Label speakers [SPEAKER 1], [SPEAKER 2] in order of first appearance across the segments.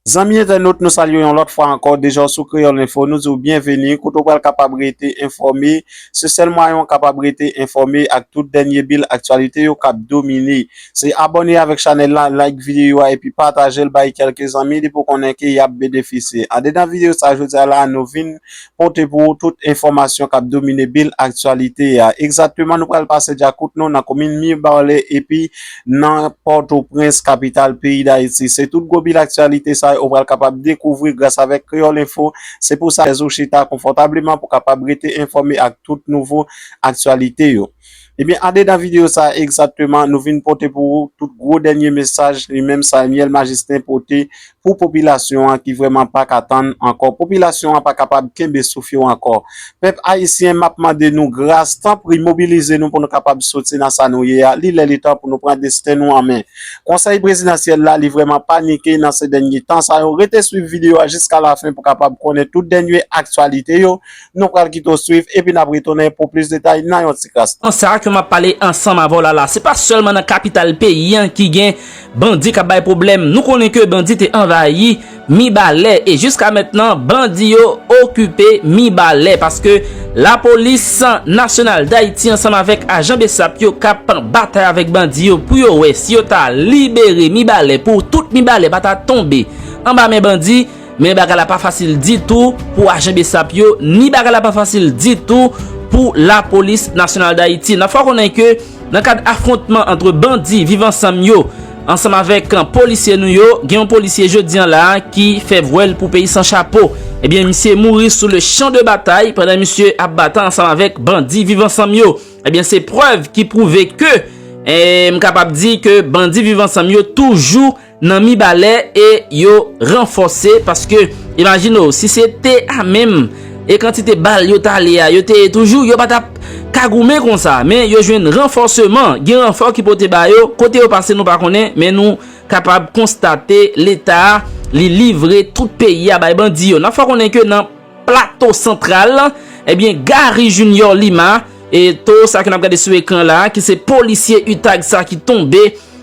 [SPEAKER 1] Zanmi entènot nou salye w yon lòt fwa ankò, deja w sou Kreyòl Enfo nou di w byenveni kote w pral kapab rete enfòme, se sèl mwayen w kapab rete enfòme ak tout dènye bil aktyalite yo kap domine se abòne avèk chanèl la, like videyo a epi pataje l bay kèlke zanmi li pou konnen ke yap benefisye. Andedan videyo sa jodi a la nou vin pote pou ou tout enfòmasyon kap domine bil aktyalite a. Egzatteman nou pral pase dyakout nou nan komin Mirbarle epi nan Pòtoprens kapital peyi Dayiti. Se tout gwo bil aktyalite sa yo ou pral kapab dekouvri gras avèk Kreyòl Enfo. Se pou sa chèz ou chita konfòtableman pou kapab rete enfòme ak tout nouvo aktyalite yo. Ebyen adeda video sa egzatteman nou vin pote pou ou tout gwo dènye mesaj li menm Samuel Majestin pote pou popilasyon an ki vrèman pa ka tann ankò popilasyon an pa kapab kenbe souf yo ankò pèp ayisyen map mande nou gras tanpri mobilize nou pou nou kapab soti nan sa nou ye a li lè li tan pou nou pran desten nou an men konsèy prezidansyèl la li vrèman panike nan se dènye tan sa yo rete swiv video a jiska lafen pou kapab konnen tout dènye aktyalite yo Nou pral kite w swiv epi n ap retounen pou plis detay nan yon ti kras tan. Sa ke m ap pale
[SPEAKER 2] ansanm avè w la la, se pa sèlman nan kapital peyi an ki gen bandi k ap bay pwoblèm. Nou konnen ke bandi te anvayi Mibalè e jiska mentnan bandi yo okipe Mibalè paske lapolis nasyonal Dayiti ansanm avèk ajan bsap yo k ap batay avèk bandi yo pou yo wè si yo ta libere Mibalè pou tout Mibalè pa ta tonbe anba men bandi. Men bagay la pa fasil ditou pou ajan besap yo, ni bagay la pa fasil ditou pou la polis nasyonal dayiti. Nan fwa konnen ke nan kad afrontman antre bandi viv ansanm yo, ansanm avek polisye nou yo, gen yon polisye jodi an la ki fè vwèl pou peyi san chapo. Ebyen misye mouri sou le chan de batay pandan misye ap batan ansanm avek bandi viv ansanm yo. Ebyen se prèv ki pwouve ke, m kapab di ke bandi viv ansanm yo toujou. nan mibalè e yo ranfòse paske imajine w si se te a menm e kantite bal yo ta ale a yo te ye toujou yo pa t ap ka goumen konsa men yo jwenn ranfòseman gen ranfò ki pote ba yo kote yo pase nou pa konnen men nou kapab konstate leta li livre tout peyi a bay bandi yo nan fò konnen ke nan Plato Santral, ebyen Gary Junior Lima, eto sa ke n ap gade sou ekran la, ki se polisye utag sa ki tonbe,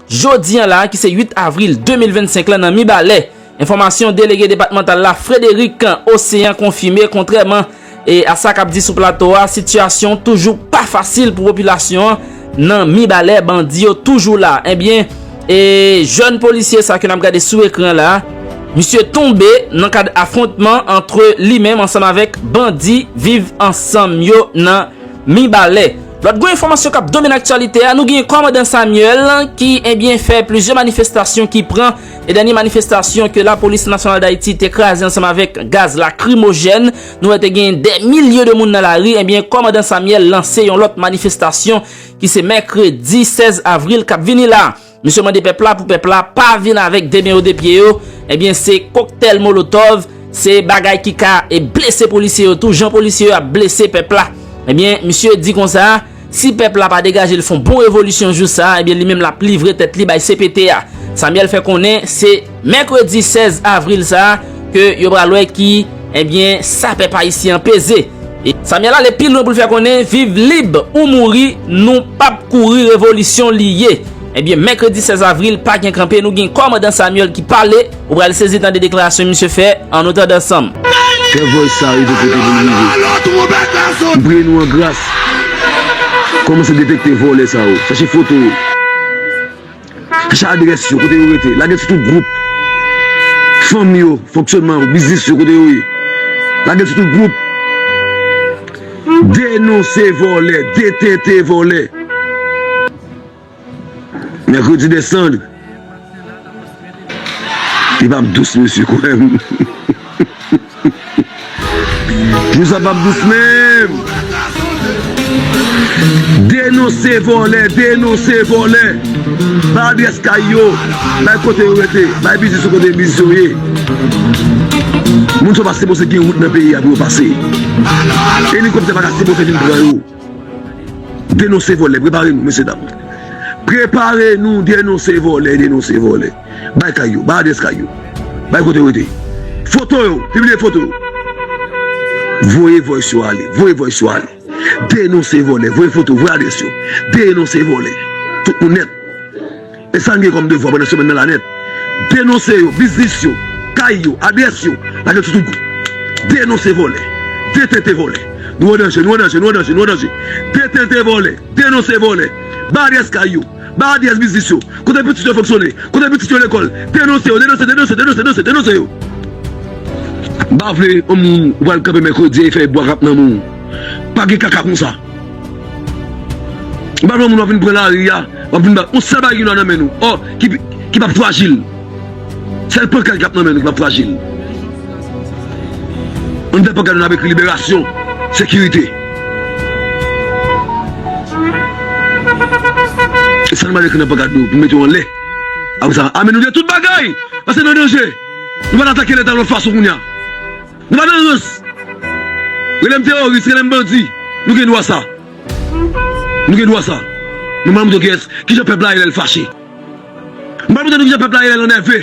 [SPEAKER 2] jodi an la, ki se 8 avril 2025 la nan Mibalè. Enfòmasyon delege depatmantal la, Frederick Océan konfime, kontrèman a sa k ap di sou plato a, sitiyasyon toujou pa fasil pou popilasyon an, Nan mibalè bandi yo toujou la ebyen e jèn polisye sa ke nap gade sou ekran la misye tonbe nan kad afwontman antre li menm ansanm avèk bandi viv ansanm yo nan mibalè. Lòt gwo enfòmasyon kap domine aktyalite a nou gen kòmandan Samuel ki ebyen fè plizyè manifestasyon ki pran e dènye manifestasyon ke lapolis nasyonal dayiti te kraze ansanm avèk gaz lakrimojèn Nou wè te gen dè milye de moun nan lari, ebyen kòmandan Samyèl lanse yon lòt manifestasyon ki se mèkredi 16 avril kap vini la. Misye mande pèp la pou pèp la pa vin avèk de men yo de pye yo, ebyen se koktèl molotòv, se bagay ki ka e blese polisye yo tou jan polisye yo ap blese pèp la. Ebyen misye di konsa. Si pèp la pa degaje l fon bon revolisyon jou sa a, ebyen li menm l ap livre tèt li bay cpt a. Samuel fè konnen se mèkredi 16 avril sa a ke yo pral wè ki ebyen sa pèp ayisyen an peze. Samuel ale pi lwen pou l fè konnen viv lib ou mouri nou p ap kouri revolisyon li ye. Ebyen mèkredi 16 avril pa gen kanpe nou gen kòmandan Samuel ki pale. Ou pral sezi tande deklarasyon misye fè an nou tande ansanm. Fè voice sa
[SPEAKER 3] rive kote pou l rive. M priye nou an gras. Komanse detekte vòlè sa yo. Chache foto yo. Chache adrès yo kote yo rete. Lage sou tout gwoup. Fanm yo, fonksyonman yo, biznis yo kote yo ye. Lage sou tout gwoup. Denonse vòlè. Detente vòlè. Mercredi desann Li pap dous mesye kwèm Jou sa pap dous menm Denonse vòlè Denonse vòlè Bay adrès kay yo Bay kote yo rete Bay biznis yo kote biznis yo ye Moun sa yo pa sipoze gen wout nan peyi a pou yo pase Elikoptè pa ka sipoze vin pran yo. Denonse vòlè prepare nou mesye dam prepare nou denonse vòlè denonse vòlè bay kay yo bay adrès kay yo bay kote yo rete foto yo pibliye foto yo voye vòys yo ale voye vòys yo ale denonse vòlè voye foto voye adrès yo denonse vòlè tout moun nèt. E sa n gen kòm devwa pandan semèn nan la nèt? Denonse yo, biznis yo, kay yo, adrès yo, lage toutouk gou. Denonse vòlè, detente vòlè. Nou an danje, nou an danje, nou an danje, nou an danje. Detente vòlè, denonse vòlè. Ba adrès kay yo, ba adrès biznis yo, kote pitit yo fonksyone, kote pitit yo lekòl. Denonse yo, denonse, denonse, denonse, denonse, denonse yo. Bafle yon moun ou pral kanpe mèkredi e fè bwa rap nan men w. Pa gen kaka konsa. M pa vle moun wap vin pran lari a, wap vin bat. Ou sèl bagay ki dwa nan men nou, ò, ki pap frajil. Sèl pankad kap nan men nou ki pap frajil. Anndan pankad nou nap ekri liberasyon, sekirite. E sa nou pral ekri nan pankad nou pou mete yo anlè. Apresa, ame nou de tout bagay! Pase nan danje! Nou pral atake leta yon lòt fason kounya. Nou pa nan rans. Relem teoris, relem bandi. Nou gen dwa sa. Nou gen dwa sa. Nou pral montre kiyes, kijan pep la ye lel fache. Nou pral montre nou kijan pep la ye lel enève.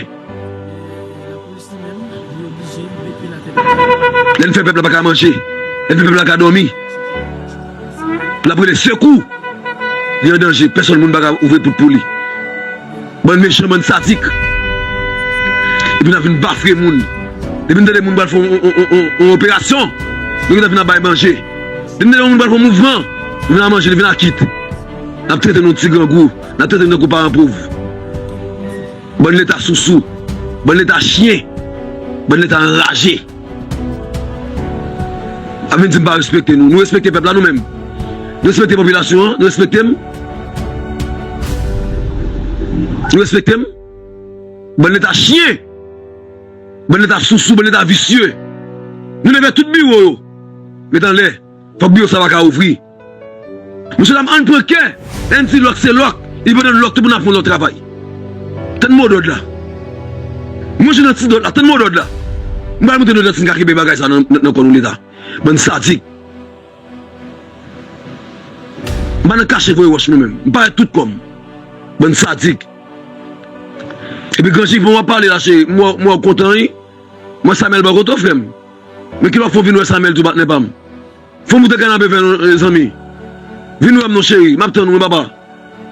[SPEAKER 3] Lel fè pep la paka manje. Lel fè pep la paka domi. Lap rele sekou. Li an danje. Peson moun paka ouvri pout pou li. Bann mechan bann sadik. Epi nap vin bafre moun. Depi nou tande moun pral fè yon operasyon nou gentan vin ap bay manje. Depi nou tande yon moun pral fè yon mouvman nou vin ap manje li vin ak it. Nap trete nou ti grangou. Nap trete nou tankou paran pov. Bann leta sousou. Bann leta chyen. Bann leta anraje. Ap vin di m pa respekte nou. Nou respekte pèp la nou menm? Nou respekte popilasyon an? Nou respekte m? Nou respekte m? Bann leta chyen! Bann leta sousou, bann leta visye! Nou leve tout biwo yo! Met anlè! Fòk biwo sa pa ka ouvri! Mesye dam ann pran kè en di lòk se lòk e pandan lòk tou pou nan pran lòt travay tann modòd la mwen jwenn nan ti dòt la tann modòd la m pral monte nou dan si n ka kenbe bagay sa nan kò nou leta bann sadik m pa nan kache voye wòch mwen menm m parèt tout kò m bann sadik epi gran chiffon wap pale la cheri m wè w kontan wi m wè samèl bò kote w frè m men kilè w fè w vin wè samèl tou patnè pa m. Fò moute kanape fè non zanmi. Vin wèm non cheri map tann ou wi papa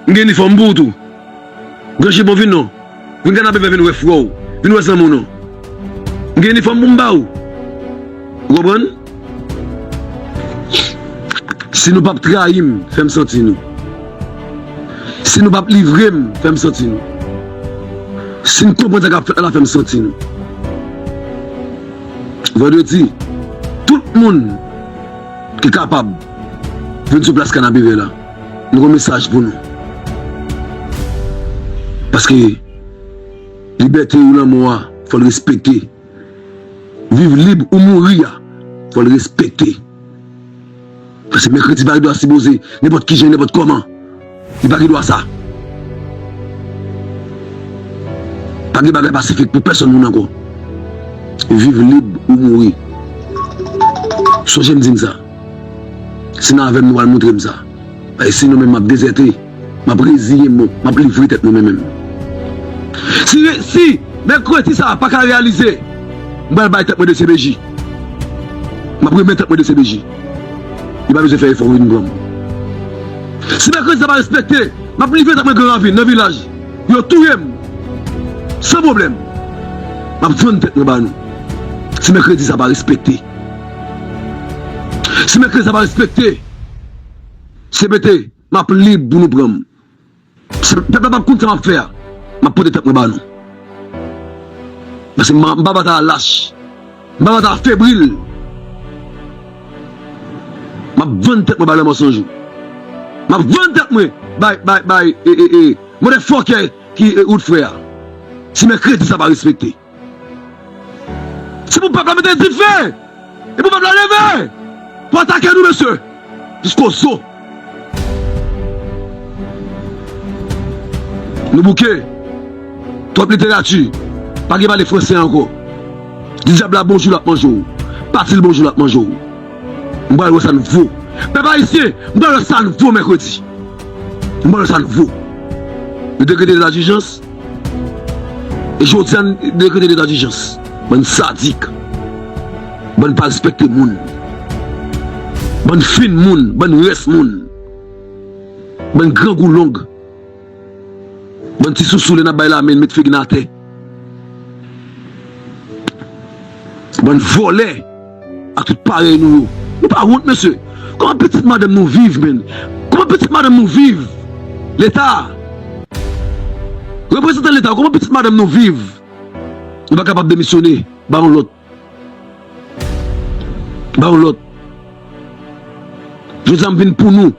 [SPEAKER 3] m gen inifòm pou ou tou gran chipon vin non vin kanape fè vin wè frè w vin wè zanmi w non m gen inifòm pou m ba ou ou konprann si nou pap trayi m fè m santi nou si nou pap livre m fè m santi nou si n konprann sa kap fèt la fè m santi nou. Vandredi, tout moun ki kapab vin sou plas Kanapevè la. Nou gen yon mesaj pou nou. Paske libète ou lanmò a fò l respekte. Viv lib ou mouri a fò l respekte. Pase mèkredi pa gen dwa sipoze nenpòt ki jan nenpòt kòman. Li pa gen dwa sa. Pa gen bagay pasifik pou pèsòn moun ankò. Viv lib ou mouri. Sonje m di n sa. Si nan avè m nou pral montre m sa. Paske sinon menm m ap dezète. M ap reziye m, m ap livre tèt mwen mwen menm. Si si mèkredi sa a pa ka reyalize, m pral bay tèt mwen dcpj. M ap remèt tèt mwen dcpj. Yo pa bezwen fè efò pou vin pran m. Si mèkredi sa a pa respekte, m ap livre tèt mwen gran ravin, nan vilaj, pou yo touye m san pwoblèm. M ap vann tèt mwen ba nou si mèkredi sa a pa respekte. Si mèkredi sa a pa respekte, cpt. Map lib pou nou pranm. Si pèp la pap konn sa map fè a, map pote tèt mwen ba nou. Paske m pa bat a lach. M pa bat a febril. Map vann tèt mwen bay lè mansonj. Map vann tèt mwen bay bay bay e e e. Mwen de fòkè ki e out frè a. Si mèkredi sa pa respekte. Se pou pèp la mete dife e pou pèp la leve pou atake nou mesye jisko zo nou bouke twòp literati pa gen pale fransè ankò di dyab la bonjou lap manje w pati l bonjou lap manje w m pral wè sa n vo pèp ayisyen m pral wè sa n vo mèkredi m pral wè sa n vo nou dekrete leta dijans. Jodi a n dekrete leta dijans. Bann sadik. Bann pa respekte moun. Bann fin moun. Bann rès moun. Bann grangou long. Bann ti sousou lè n ap bay lamen n met figi n atè. Bann vòlè. A tout parèy nou yo. Nou pa wont mesye. Koman pitit madanm nou viv menn. Koman pitit madanm nou viv. Leta. Reprezantan leta koman pitit madanm nou viv. Nou pa kapab demisyone. Ba yon lot. Ba yon lot. Jodi a m vin pou nou.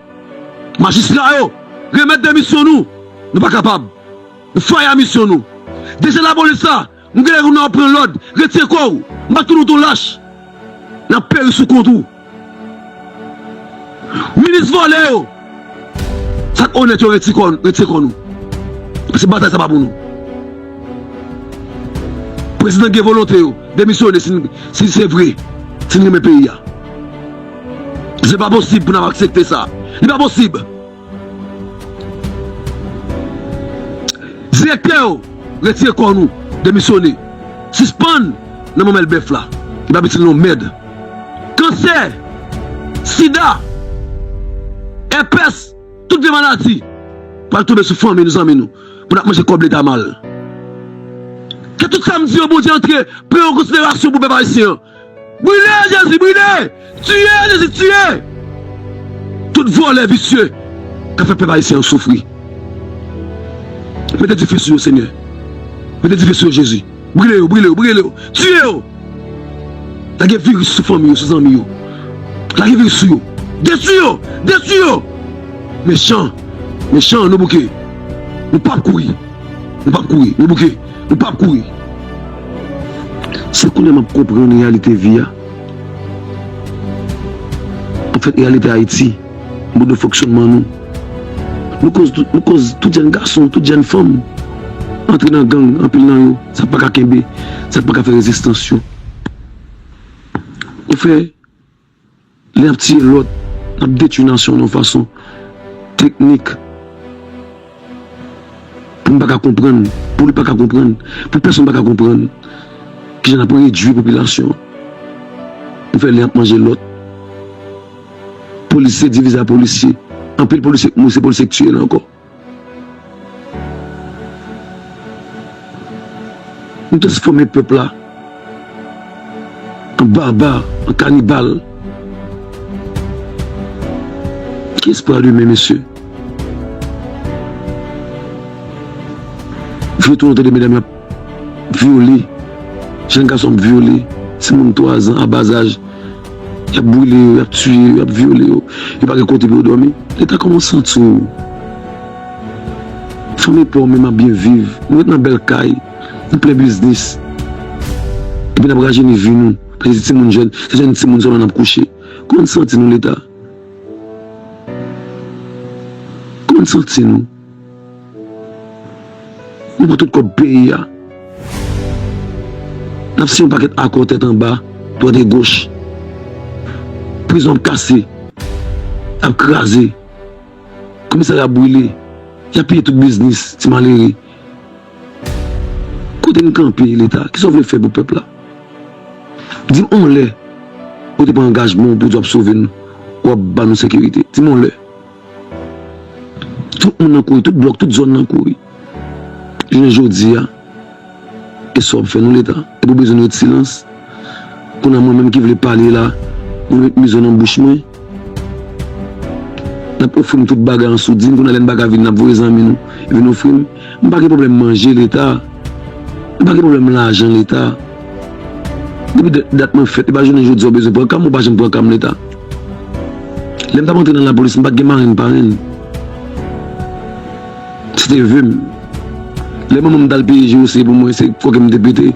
[SPEAKER 3] Majistra yo. Remet demisyon nou. Nou pa kapab. Nou faya misyon nou. Deje lapolis la. Nou genlè nou nan wap pran lòd, retire kòw, m pa t konn ou t on lach, nap peri sou kont ou. Minis vòlè yo, sak onèt yo reti kò, retire kò nou, paske batay sa pa pou nou. Prezidan gen volonte yo, demisyone si n, si se vre, si n renmen peyi a. Se pa posib pou nap aksepte sa, li pa posib. Direktè yo retire kò nou demisyone sispann nan manmèl bèf la ki pa pitit non mèd kansè sida èpès tout vye maladi pral tonbe sou fanmi nou zanmi nou pou nap manje kòb leta mal ke tout sa m di yo bondye antre pran yon konsiderasyon pou pèp ayisyen an Brile jezi brile tiye jezi tiye tout vòlè visye kap fè pèp ayisyen an soufri mete dife sou yo senyè mete dife sou yo jezi brile yo brile yo brile yo tiye yo lage viris sou fanmi yo sou zanmi yo lage viris sou yo detwi yo detwi yo mechan mechan nou bouke nou pap kouri. Ou pap kouri, ou bouke, ou pap kouri. Se kounye a m ap konprann reyalite vi a. Anfèt, reyalite Ayiti, mòd de fonksyònman nou. Nou koz tout, nou koz tout jenn gason, tout jenn fanm antre nan gang, anpil nan yo, sa pa ka kenbe, sa pa ka fè rezistans yo. Ou fè. Lè nap tiye lòt, nap detwi nasyon yon fason teknik pou m pa ka konprann, pou li pa ka konprann, pou pèsonn pa ka konprann ki jan nap redwi popilasyon an. Nou fè len ap manje lòt. Polis se divize a polisye. Anpil polisye k mouri se polisye k tiye la ankò. Nou transfòme pèp la an baba, an kanibal. Kiyès pral limen mesye? Feyton an tande medam yo ap. vyole, jèn gason ap vyole timoun 3 zan a bazaj, y ap boule yo, y ap tiye yo, y ap vyole yo, yo pa gen kote pou yo dòmi. Leta kòman w santi w? Fanmi pa w menm ap byen viv, nou ret nan bèl kay, nou plen biznis epi n ap rajeni vi nou paske se timoun jèn, se jèn timoun sèlman n ap kouche. Kòman n santi nou Leta? Kòman n santi nou? Nou pran tout kòb peyi a. N ap siyen yon pakèt akò tèt anba, dwat e goch. Prizon ap kase, ap kraze, komisarya ap brile, y ap piye tout biznis ti malere. Kote n kanpe Leta? Kisa w vle fè pou pèp la? Di m yon lè ou te pran angajman w pou w di w ap sove nou, w ap ban nou sekirite? Di m yon lè? Tout moun nan kouri, tout blòk, tout zòn nan kouri. Jounen jodi a, e sa w ap fè nou Leta? Epi w bezwen ret silans? Kounye a mwen menm ki vle pale la, nou met mizo nan bouch mwen? N ap ofri m tout bagay an soudin, kounye a lè n pa ka vini n ap voye zanmi nou vin ofri m? M pa gen pwoblèm manje Leta, m pa gen pwoblèm lajan Leta. Depi dat mwen fèt, e pa jounen jodi a w bezwen pran ka m, ou pa janm pran ka m Leta. Lè m t ap antre nan lapolis, m pa t gen marenn parenn. Se te ve m. Lè manman m t al peye je ose pou mwen, se kòken m te pete.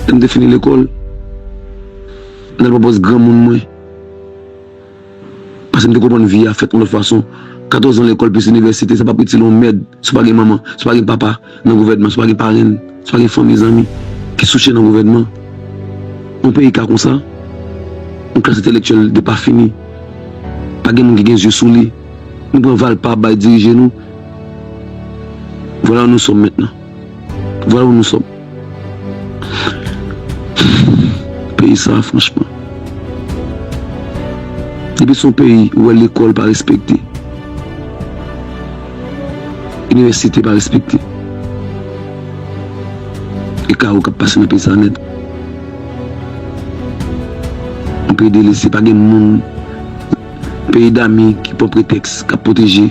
[SPEAKER 3] Lè m te fini lekòl, m t al pran pòs granmoun mwen. Paske m te konprann vi a fèt yon lòt fason. Katòzan lekòl plis inivèsite, sa pa pou itil yon mèd si w pa gen manman, si w pa gen papa. Nan gouvènman swa gen parenn, swa gen fanmi zanmi ki souche nan gouvènman. Yon peyi ka konsa, yon klas entelektyèl depafini, pa gen moun ki gen zye sou li, nou pran valpa ap bay dirije nou. Vwala ou nou sòm mentnan. Vwala ou nou sòm. Peyi sa a franchman. Depi son peyi ou wè lekòl pa respekte. Inivèsite pa respekte. E kawo k ap pase nan peyi sa a nèt. Yon peyi delese, pa gen moun, peyi dami ki pran pretèks, k ap pwoteje,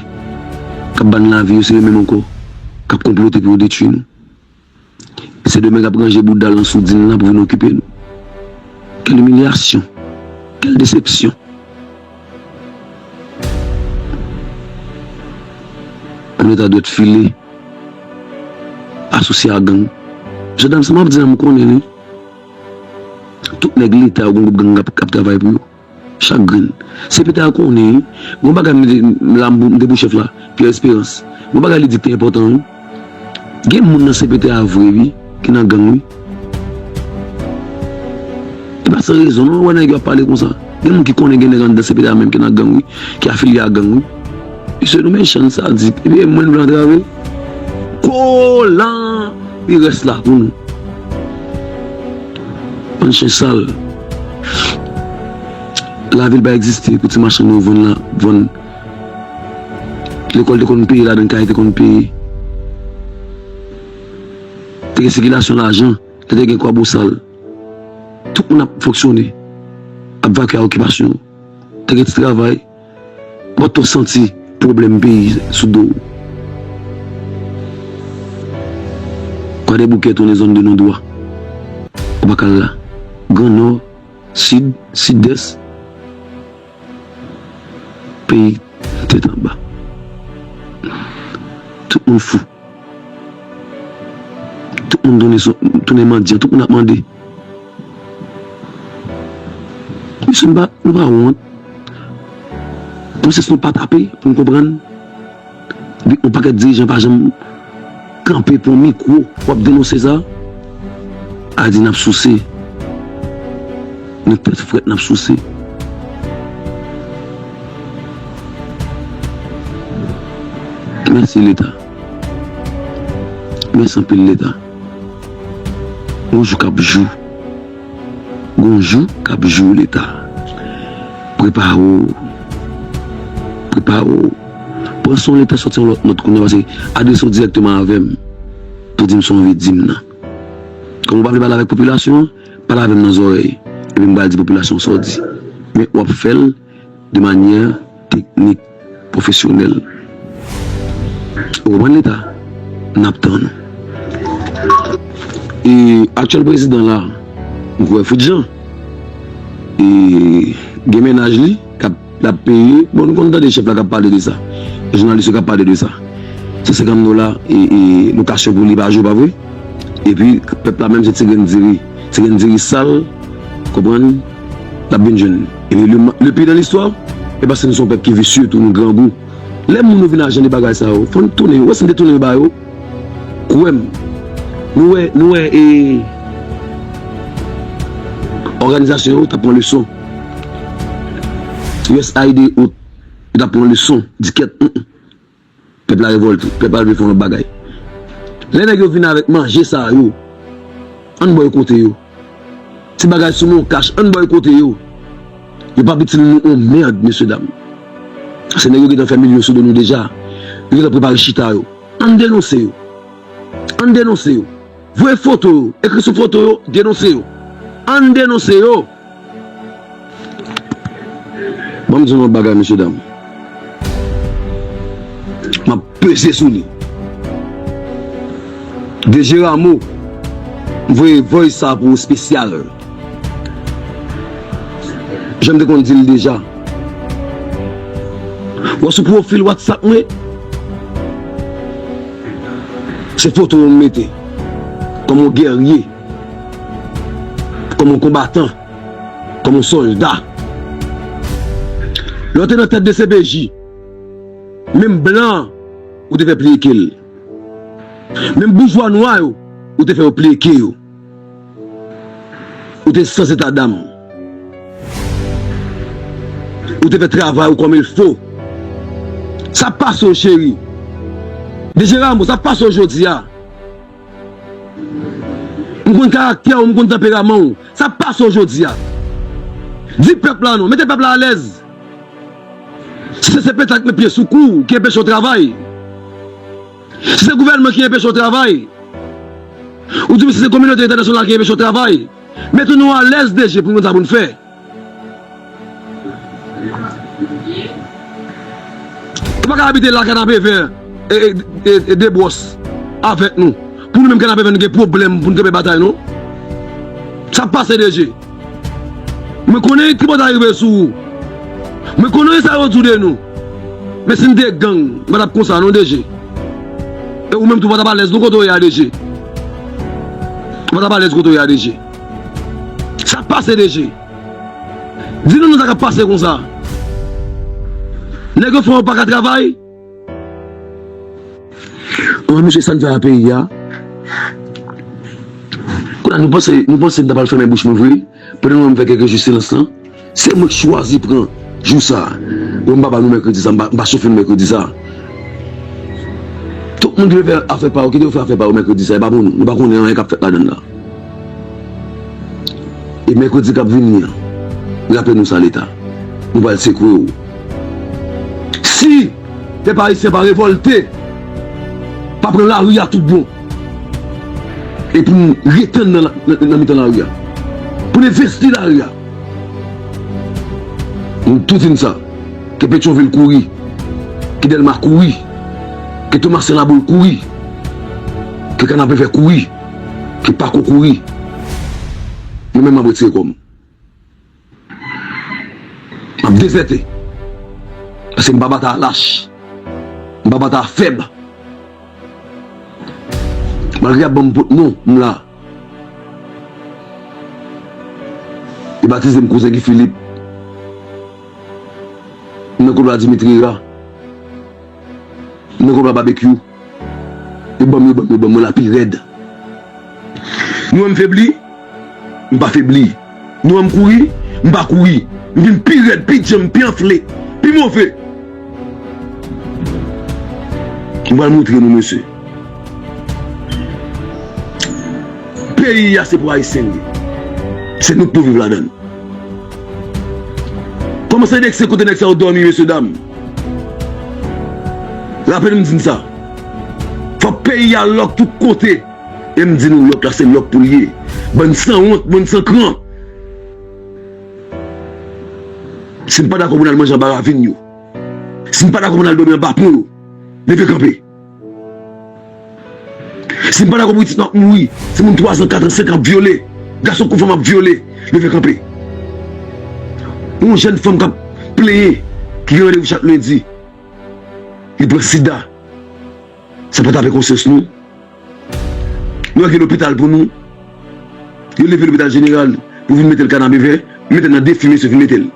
[SPEAKER 3] k ap ban n lavi yo, se yo menm ankò k ap konplote pou yo detui nou. Sendomeng ap ranje boudal nan soudin lan pou vin okipe nou. Kèl imilyasyon! Kèl desepsyon! Pou leta dwèt file, asosye a gang. Mesye dam sa map di la m konnen li. Tout nèg leta yo gen gwoup gang kap travay pou yo. Chak grenn. Se Peter a konnen wi. Gon bagay m te m la m te pou chèf la, Pierre Esperance. Gon bagay li di k te enpòtan wi. Gen moun nan CPT a vre wi ki nan gang wi. E pa san rezon non ou wè nèg yo ap pale konsa. Gen moun ki konnen gen nèg anndan CPT a menm ki nan gang wi, ki afilye a gang wi. Mesye nou mechan sadik epi e mwen nou vle antrave kolan li rès la pou nou bann chen sal lavil pa egziste pou ti machann yo vann la vann lekòl te konn peye ladan kay te konn peye te gen sikilasyon lajan lè te gen kwabosal tout moun ap fonksyone ap vakye a okipasyon te gen ti travay. Mwen tou santi pwoblèm peyi sou do w. Kwadèboukè tounen zòn de non dwa. Ou pa ka al la. Gran Nò, Sid, Sidès, peyi tèt anba. Tout moun fou. Tout moun tounen sou tounen mandyan tout moun ap mande mesye nou pa nou pa wont konsens nou pa tape poun konprann de yon pakèt dirijan pa janm kanpe pou yon mikwo pou ap denonse sa a di nap souse nou tèt frèt nap souse. Mèsi leta. Mèsi anpil leta. Gon jou kap jou. Gon jou kap jou leta. Prepare w. Prepare w. Pran son leta soti yon lòt nòt kounya pase adrese w dirèkteman avèm pou dim sa w anvi dim nan. Kòm ou pa vle pale avèk popilasyon an, pale avèm nan zòrèy epi m pral di popilasyon sa w di. Men wap fè l. de manyè teknik pwofesyonèl. Ou konprann leta n ap tann ou. E aktyèl prezidan la m kwè fout jan e gen mennaj li kap lap peye bon nou konn tande chèf la kap pale de sa e jounalis yo kap pale de sa 150 dola e lokasyon pou li pa jou pa vre epi pèp la menm se ti grenn diri ti grenn diri sal konprann. Nap vin jwenn li le pi nan listwa e paske nou se yon pèp ki visye tou nou grangou lè moun yo vin ajan de bagay sa yo fò nou tounen yo wè si nou te tounen yo ba yo kwè m nou wè nou wè e òganizasyon yo tap pran leson usaid e ot yo tap pran leson di kèt Pèp la revòlte, pèp la vle fè lòt bagay. Lè nèg yo vin avèk manje sa yo, ann bòykote yo. Ti bagay sou non kach, ann bòykote yo. Yo p ap itil nou yon mèrd, mesye dam. Paske nèg yo gentan fè milyon sou do nou deja. Yo gentan prepare chita yo. Ann denonse yo. Ann denonse yo. Voye foto yo, ekri sou foto yo, denonse yo. Ann denonse yo! Banm dinou yon bagay mesye dam map peze sou li DG Rameau m voye voice sa pou ou spesyal janm te konn dil deja wè sou profil whatsapp mwen se foto ou m mete kòm yon guerrier. Kòm yon konbatan, kòm yon sòlda. Lè w te nan tèt dcpj, menm blan ou te fè pliye ke l. Menm boujwa nwa yo ou te fè yo pliye ke yo. Ou te sans etadam. Ou te fè travay ou kòm il fo. Sa pase w cheri. Deje Ramo, sa pase w jodi a. M konn karaktè ou, m konn tanperaman ou. Sa ap pase w jodi a. Di pèp la non. Mete pèp la alèz. Si se pete ak met pye sou kou w ki enpeche w travay. Si se gouvènman ki enpeche w travay. Oubyen si se kominote entènasyonal ki enpeche w travay. Mete nou alèz deje pou nou konn sa pou nou fè. Ou pa ka abite la kanapevè e de bwòs avèk nou pou nou menm kanapevè nou gen pwoblèm pou nou kenbe batay non sa pase DG mwen konnen tripotay rive sou ou mwen konnen sa yo di de nou men si nou te gang nou pa tap konsa non DG e ou menm tou ou pa tap alèz non kote ou ye a DG ou pa tap alèz kote ou ye a DG. Sak pase DG? Di nou non sa kap pase konsa? Nèg yo fò yo paka travay? Bon mesye sa n fè a peyi a? Kounye a nou panse nou panse n ta pral fèmen bouch nou vre pandan nou menm fè kèk jou silans lan? Se mwen k chwazi pran jou sa Bon m pa ba nou mèkredi sa M pa chofe nou mèkredi sa Tout moun ki vle fè afè pa yo kite yo fè afè pa yo mèkredi sa e pa pou nou Nou pa konnen anyen k ap fèt ladann la E mèkredi k ap vini an Raple nou sa leta Nou pral sekwe w Si pèp ayisyen pa revòlte Pa pran lari a tout bon E pou nou retann nan mitan lari a Pou nou envesti lari a. Nou tou fin sa. Ke Petyonvil kouri. Ke Dèlma kouri. Ke Tomasen Laboul kouri. Ke Kanapevè kouri. Ke Pako kouri. Mwen menm m ap retire kò m. M ap dezète. Paske m pa batay a lach. M pa batay a fèb. Malgre y ap ban m pot non, m la. Yo batize m kouzen Guy Philippe. M nan koulwa Dimitri Hera. M nan koulwa Babekyou. Yo ban m, yo ban m, yo ban m, mwen la pi rèd. Yo wè m febli, m pa febli. Nou wè m kouri? M pa kouri. M vin pi rèd, pi djanm, pi anfle, pi move. M pral montre nou mesye. Peyi a se pou Ayisyen l ye. Se nou k pou viv ladan l. Kòman se vekse kote nèg sa yo dòmi mesye dam? Raple nou m di n sa. Fòk peyi a lòk tout kote. E m di nou lòk la se lòk pou l ye. Bann sanwont, bann san kran. Si n pa dakò pou n al manje anba ravin yo, si n pa dakò pou n al dòmi anba pon yo, leve kanpe. Si n pa dakò pou pitit nou ap mouri, timoun twazan, katran, senkan ap vyole, gason kou fanm ap vyole, leve kanpe. Yon jèn fanm k ap plenyen ki gen randevou chak lendi, li pran sida. Sa pa tape konsyans nou. Nou ak yon lopital pou nou. Yo leve lopital jeneral pou vin mete l kanabevè. Yo mete l nan defi mesye fin mete l.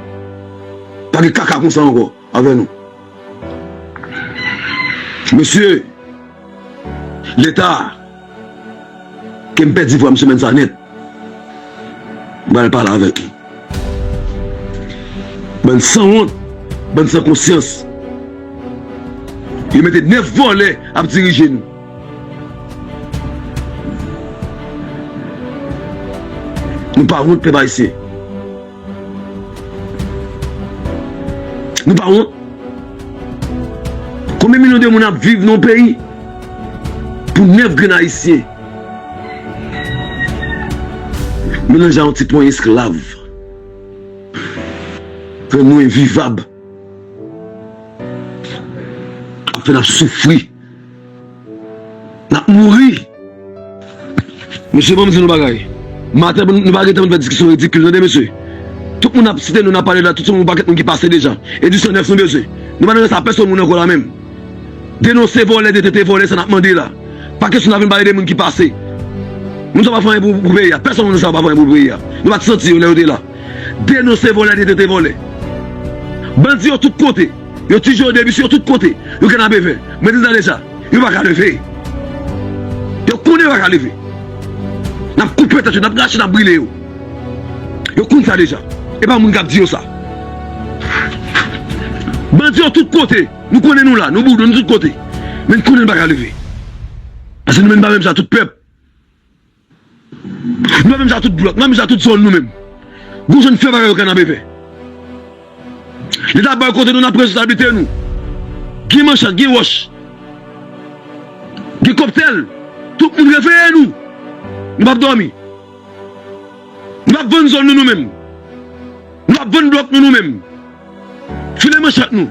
[SPEAKER 3] Pa gen kaka konsa ankò avè nou. Mesye! Leta! Kem pèdi vwam semèn sa nèt m pral pale avèk li bann sanwont bann san konsyans yo mete 9 vòlè ap dirije nou. Nou pa wont pèp ayisyen. Nou pa wont? Konbyen milyon de moun ap viv nan peyi pou 9 grenn ayisyen melanje a yon ti ponyen esklav rann nou envivab ap fè n ap soufri? Nap mouri. Mesye banm di nou bagay. Maten nou pa gentan fè diskisyon ridikil tande mesye. Tout moun nap site nou nap pale la tout se yon pakèt moun ki pase deja. Edisyon 9 nou bezwen. Nou pa nan sa pèsòn moun ankò la menm. Denonse vòlè detente vòlè sa nap mande la. Pa kesyon nap vin pale de moun ki pase. Moun sa yo pa fè anyen pou peyi a. Pèsòn nan moun sa yo pa fè anyen pou peyi a. Nou pat santi yo lè yo te la. Denonse vòlè detente vòlè. Bandi yo tout kote. Yo ti jode misye yo tout kote yo gen nabe vè mwen di tande sa yo pa ka leve yo konnen yo pa ka leve nap koupe tèt yo nap rache nap brile yo yo konn sa deja e pa moun kap di yo sa bandi yo tout kote nou konnen nou la nou boudon nou tout kote men n konnen nou pa ka leve pase nou menm nou pa menm sa tout pèp. Nou menm sa tout blòk, nou menm sa tout zòn nou menm. Gon jan n fè bagay yo Kanabevè. Leta bay kote nou n ap pran responsablite nou. Gen manchat, gen wòch, gen kòptèl, tout moun reveye nou. Nou pa p dòmi. Nou pa p vann zòn nou nou menm. Nou pa p vann blòk nou nou menm. File manchèt nou.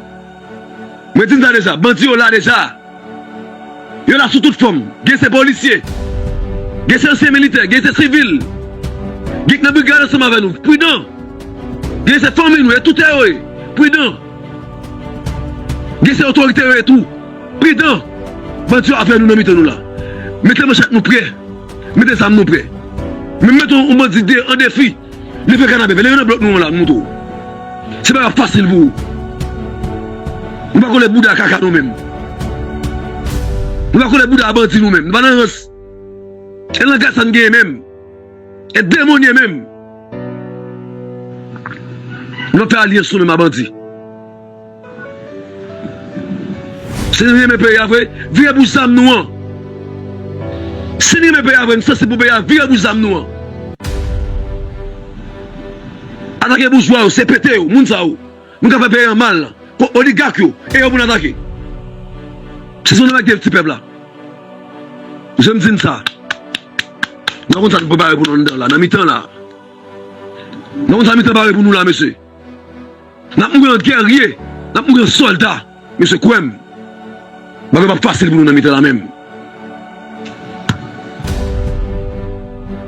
[SPEAKER 3] Mwen di n sa deja, bandi yo la deja. Yo la sou tout fòm. Gen se polisye, gen se ansyen militè, gen se sivil, gen k nan brigad ansanm avè nou. Pridan! Gen se fanmi nou ye, toutè yo ye. Pridan! Gen se otorite yo ye tou. Pridan! Bandi yo avè nou nan mitan nou la. Mete manchèt nou prè. Mete zam nou prè. Menm mete yon bandi an defi. Leve kanapé, leve nan blòk nou an la, m montre w. Se pa fasil pou ou. Nou pa kole bouda kaka nou menm. Nou pa kole bouda bandi nou menm. Nou pa nan rans. E langaj sa n genyen menm. E demonye menm. Nou pa fè alyans nou menm a bandi. Si nou renmen peyi a vre, vire pou zam nou an. Si nou renmen peyi a vre, nou sansib pou peyi a, vire pou zam nou an. Atake boujwa yo, CPT yo, moun sa yo. Nou ka fè peyi an mal. Oligak yo, e yo pou nou atake. Si son nèg te ti pèp la. Janm di n sa. Nou pa konn sa nou prepare pou nou anndan la, nan mitan la. Nou pa konn sa mitan pare pou nou la mesye. Nap mouri an guerrier, nap mouri an solda, mesye kwèm bagay pap fasil pou nou nan mitan la menm.